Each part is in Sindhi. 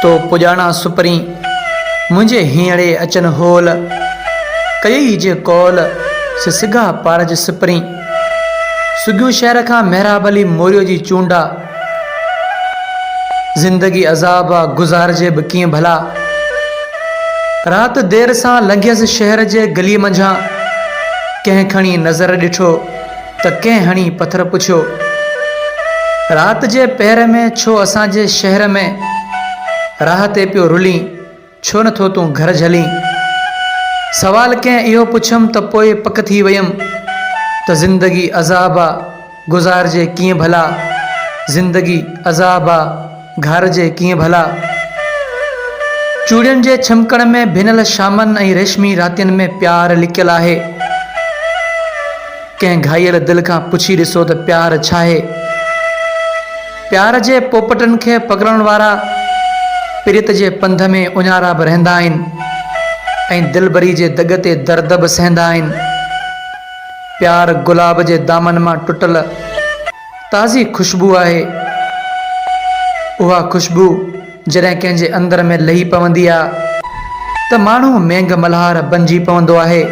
تو پڄاڻان سپرين، منهنجي هينئڙي اچن هول، ڪيئي جي قول، سي سگها پارج سپرين. سگهيون شهر کان محراب علي موريو جي چونڊ آ. زندگي عذاب آ، گذارجي به ڪيئن ڀلا. رات دير سان لنگهيس شهر جي گليء منجهان، ڪنهن کڻي نظر ڏٺو. ته ڪنهن هڻي پٿر پڇيو. رات جي پهر ۾ ڇو اسان جي شهر ۾، راهه تي پيو رلين، ڇو نه ٿو تون گهر جهلين؟ سوال ڪنهن اهو پڇيم ته پوء پڪ ٿي ويم ته زندگي عذاب آ، گذارجي ڪيئن ڀلا زندگي عذاب آ. گهر جي ڪيئن ڀلا. چوڙين جي ڇمڪڻ ۾ ڀنل شامن ۽ ريشمي راتين ۾ پيار لڪيل آهي. ڪنهن گهائيل دل کان پڇي ڏسو ته پيار ڇاهي؟ پيار جي پوپٽن کي پڪڙڻ وارا پريت جي پنڌ ۾ اڃارا به رهندا آهن ۽ دلبري جي دڳ تي درد به سهندا آهن. پيار گلاب جي دامن مان ٽٽل. تازي خوشبو آهي. اها خوشبو جڏهن ڪنهن جي اندر ۾ لهي پوندي آ ته ماڻهو مينگهه ملهار بنجي پوندو آهي.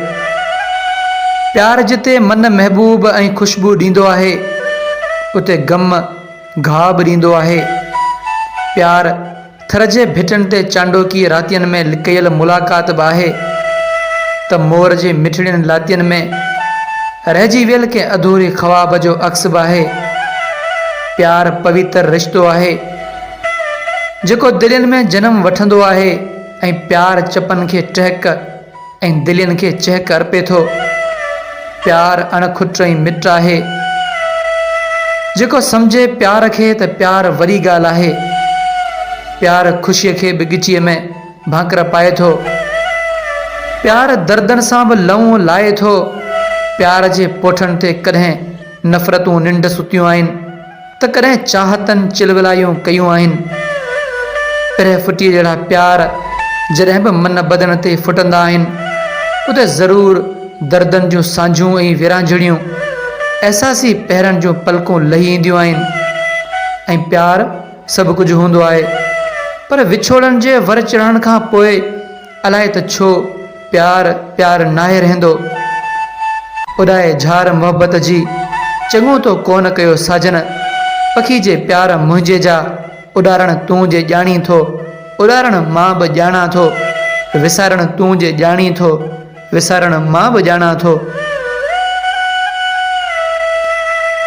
پيار جتي من محبوب ۽ خوشبو ڏيندو آهي اتي غم گهاء به ڏيندو آهي. پيار. ٿر جي ڀٽن تي چانڊوڪي راتين ۾ ڪيل ملاقات به آهي ته مور جي مٺڙين لاتين ۾ رهجي ويل ڪنهن اڌوري خواب جو عڪس به آهي. پيار پويتر رشتو آهي، جيڪو دلين ۾ جنم وٺندو آهي ۽ پيار چپن کي ٽهڪ. ۽ دلين کي چهڪ ارپي ٿو. پيار اڻ کٽ ۽ مٽ آهي. جيڪو سمجهي پيار کي ته پيار وڏي ڳالهه آهي. پيار خوشيء کي به ڳچيء ۾ ڀانڪر پائي ٿو. پيار دردن سان به لئون لائي ٿو. پيار جي پوٺن تي ڪڏهن نفرتون ننڊ ستيون آهن. ته ڪڏهن چاهتن چلولايون ڪيون آهن. پرهه ڦٽيء جهڙا پيار جڏهن به من بدن تي ڦٽندا آهن، اتي ضرور دردن جون سانجهون ۽ ورهاڱڙيون، احساسي پهرن جون پلڪون لهي اينديون آهن. ۽ پيار سڀ ڪجهه هوندو آهي. پر وڇوڙن جي ور چڙهڻ کان پوء، الائي ته ڇو پيار پيار ناهي رهندو اڏائي جھار محبت جي چڱو تو ڪونه ڪيو ساجن پکي جي پيار منهنجي جا اڏارڻ تون جي ڄاڻين ٿو اڏارڻ مان به ڄاڻان ٿو وسارڻ تون جي ڄاڻين ٿو وسارڻ مان به ڄاڻان ٿو.